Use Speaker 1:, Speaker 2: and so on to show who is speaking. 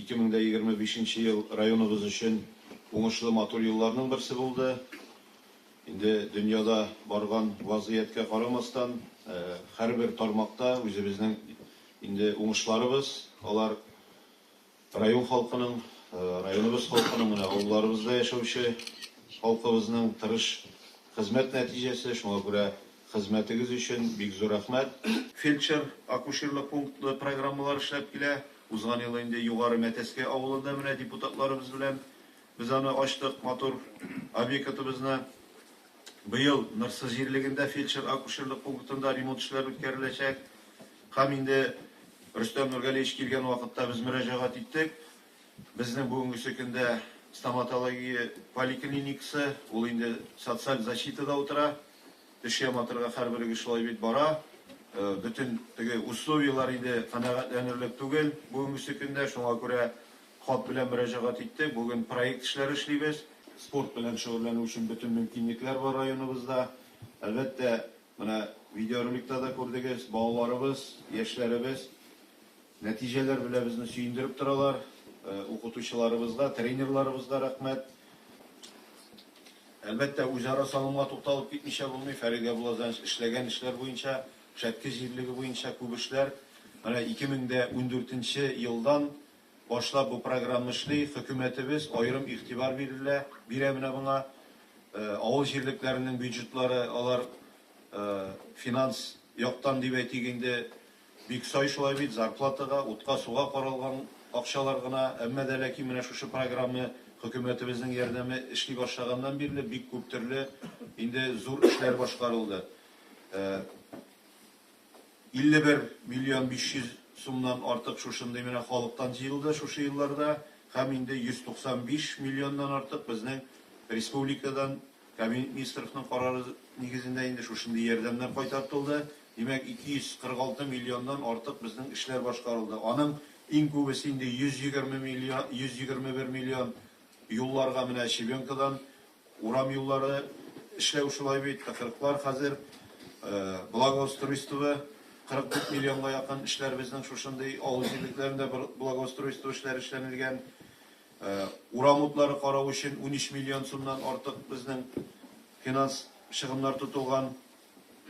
Speaker 1: Ике мең дә егерме бишенче ел районыбыз өчен уңышлы матур елларның берсе булды. Инде дөньяда барган вазгыятькә карамастан, һәрбер тармакта үзебезнең инде уңышларыбыз, алар район халкының, районыбыз халкының, менә авылларыбызда яшәүче халкыбызның тырыш хезмәт нәтиҗәсе, шуңа күрә Хезмәтегез өчен бик зур рәхмәт! Фельдшер-акушерлык пунктлы программалар эшләп килә. Узган ел инде Югары Мәтәскә авылында менә депутатларыбыз белән без аны ачтык, матур обекытыбызны. Быел Нырсы җирлегендә фельдшер-акушерлык пунктында ремонт эшләре үткәреләчәк. Һәм инде Рөстәм Нургалиевич килгән вакытта без мөрәҗәгать иттек. Безнең бүгенгесе көндә стоматология поликлиникасы, ул инде социаль защитада утыра. Теш яматырга хәрберегез шулай бит бара. Бөтен теге условияләр инде канәгатьләнерлек түгел бүгенгесе көндә. Шуңа күрә хат белән мөрәҗәгать иттек. Бүген проект эшләре эшлибез. Спорт белән шөгыльләнү өчен бөтен мөмкинлекләр бар районыбызда. Әлбәттә, менә видеороликта да күрдегез, балаларыбыз, яшьләребез. Нәтиҗәләр белә безне сөендереп торалар. Укытучыларыбызга, тренерларыбызга рәхмәт. Әлбәттә, үзара салымга тукталып китмичә булмый. Фәрит Ябулазарович эшләгән эшләр буенча, Шәтке җирлеге буенча күп эшләр. Менә 2014 нче елдан башлап бу программа эшли. Хөкүмәтебез аерым игътибар бирелә, бирә менә моңа. Авыл җирлекләренең бюджетлары, алар финанс яктан дип әйтик инде, Бик сай шулай бит, зарплатага, утка, суга каралган акчалар гына, әмма дә ләкин менә шушы программа хөкүмәтебезнең ярдәме эшли башлаганнан бирле бик күп төрле инде зур эшләр башкарылды. 51 миллион 500 сумнан артык шушындый менә халыктан җыелды шушы елларда һәм инде 195 миллионнан артык безнең республикадан Кабинет министровның карары нигезендә инде шушындый ярдәмнәр кайтартылды. Димәк, 246 миллионнан артык безнең эшләр башкарылды. Аның иң күбесе инде 120 миллион, 121 миллион юлларга менә щебенкадан урам юллары эшләү шулай бит, тыкрыклар хәзер, благоустройство 44 миллионга якын эшләр безнең шушындый авыл җирлекләрендә благоустройство эшләре эшләнелгән. Урам утлары карау өчен унөч миллион сумнан артык безнең финанс чыгымнар тотылган.